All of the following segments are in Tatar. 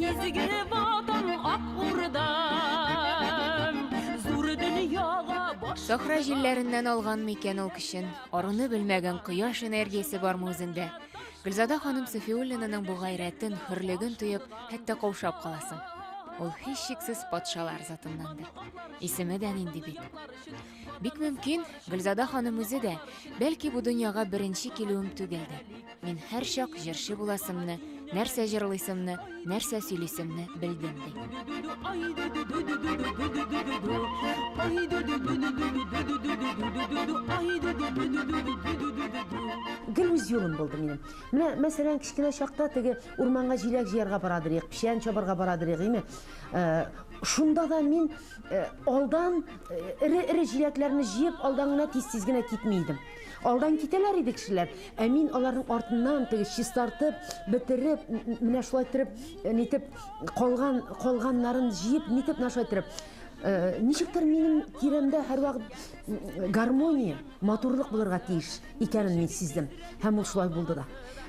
Изге ватан ак урдам, зур дөньяга баш. Сахра җилләреннән алган микән ул көчен, аруны белмәгән кояш энергиясе бармы үзендә? Гөлзада ханым Сафиуллинаның бу гайрәтен, хөрлеген тоеп, хәтта каушап каласың. Ул һичшиксез патшалар затыннандыр. Исеме дә нинди бит. Бик мөмкин, Гөлзада ханым үзе дә, бәлки бу дөньяга беренче килүем түгелдер. Мин һәрчак җырчы буласымны, нәрсә җырлыйсымны, нәрсә сөйлисемне белдем ди. Гел үз юлым булды минем. Менә, мәсәлән, кечкенә чакта теге урманга җиләк җыярга барадыр идек, печән чабарга барадыр идек, име? Э, шунда да мин э, алдан эре-эре җиләкләрне җыеп, алдан гына тиз-тиз генә китми идем. Алдан китәләр иде кешеләр, ә мин аларның артыннан теге чистартып, бетереп, менә шулай итеп, э, нитеп калган калганнарын җыеп, нитеп менә шулай итеп э, ничектер минем тирәмдә һәрвакыт гармония, матурлык булырга тиеш икәнен мин сиздем. Һәм ул шулай булды да.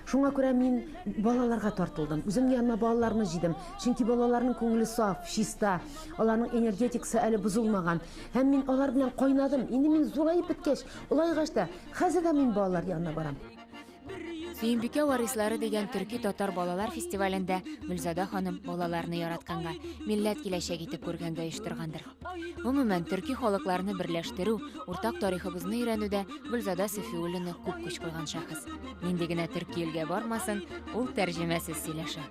Шуңа күрә мин балаларга тартылдым. Үзем янына балаларны җыйдым. Чөнки балаларның күңеле саф, чиста, аларның энергетикасы әле бозылмаган. Һәм мин алар белән кайнадым. Инде мин зураеп беткәч, улайгач та, хәзер дә мин балалар янына барам. Сөембикә варислары дигән төрки татар балалар фестивалендә Гөлзада ханым балаларны яратканга, милләт киләчәк итеп күргәнгә оештыргандыр. Гомумән, төрки халыкларны берләштерү, уртак тарихыбызны өйрәнүдә Гөлзада Сафиуллина күп көч куйган шәхес. Нинди генә төрки илгә бармасын, ул тәрҗемәсез сөйләшә.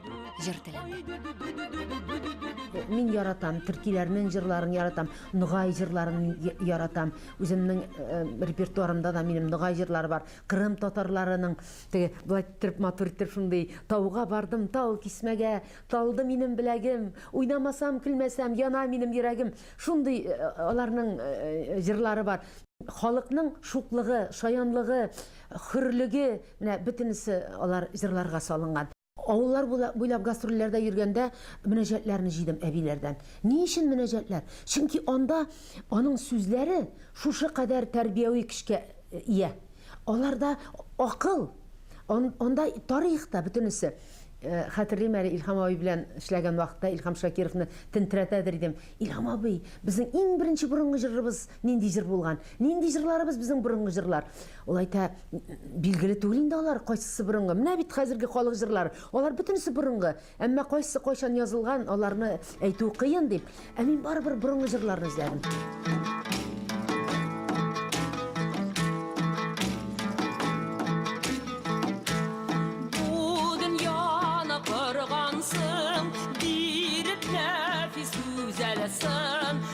җыр телендә. Мин яратам, төркиләрнең җырларын яратам, ногай җырларын яратам. Үземнең э, репертуарымда да минем ногай җырлар бар. Кырым татарларының теге былай төрп матур итеп шундый тауга бардым, тау кисмәгә, талды минем беләгем, уйнамасам, көлмәсәм, яна минем йөрәгем. Шундый э, аларның э, җырлары бар. Халыкның шуклыгы, шаянлыгы, хөрлеге, менә бөтенесе алар җырларга салынган. Авыллар буйлап гастрольләрдә йөргәндә мөнәҗәтләрне җыйдым әбиләрдән. Ни өчен мөнәҗәтләр? Чөнки анда аның сүзләре шушы кадәр тәрбияви көчкә ия. Аларда акыл, анда тарих та, бөтенесе. Хәтерлим әле, Илһам абый белән эшләгән вакытта Илһам Шакировны тенттерәтәдер идем. Илһам абый, безнең иң беренче борынгы җырыбыз нинди җыр булган? Нинди җырларыбыз безнең борынгы җырлар? Ул әйтә, билгеле түгел инде алар, кайсысы борынгы. Менә бит хәзерге халык җырлары, алар бөтенесе борынгы. Әмма кайсы кайчан язылган, аларны әйтү кыен дип, ә мин барыбер борынгы җырларны эзләдем. Бу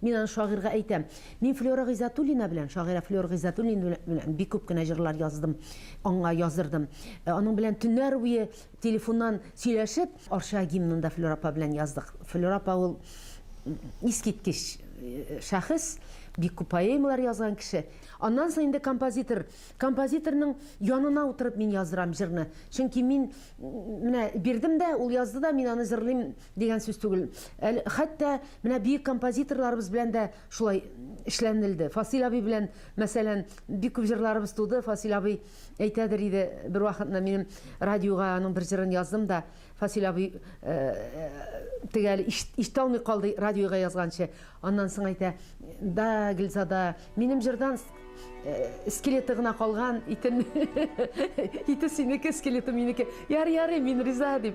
Мин аны шагыйрьгә әйтәм. Мин Флера Гыйззәтуллина белән, шагыйрә Флер Гыйззәтуллина белән бик күп кенә җырлар яздым, аңа яздырдым. Аның белән төннәр буе телефоннан сөйләшеп, Арча гимнын да Флера апа белән яздык. Флера апа ул искиткеч шәхес, бик күп поэмалар язган кеше. Аннан соң инде композитор. Композиторның янына утырып мин яздырам җырны. Чөнки мин менә бирдем дә, ул язды да, мин аны җырлыйм, Дигән сүз түгел. Әле хәтта менә бөек композиторларыбыз белән дә шулай эшләнелде. Фасил абый белән, мәсәлән, бик күп җырларыбыз туды. Фасил абый әйтәдер иде, бервакытны минем радиога аның бер җырын яздым да, Фасил абый теге әле ишетә алмый калды радиога язганчы. Аннан соң әйтә, Да, Гөлзада, минем җырдан скелеты гына калган, итен, ите синеке, скелеты минеке. Ярый, ярый, мин риза, дип.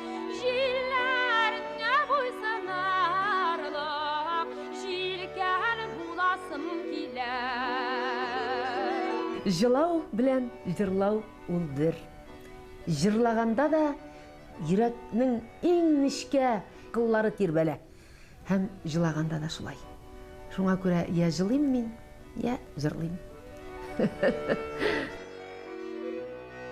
Җилләреңә буйсынарлык, җилкән буласым килә. Җылау белән җырлау ул бер. Җырлаганда да йөрәкнең иң нечкә кыллары тирбәлә. Һәм җылаганда да шулай. Шуңа күрә йә җылыйм мин, йә җырлыйм.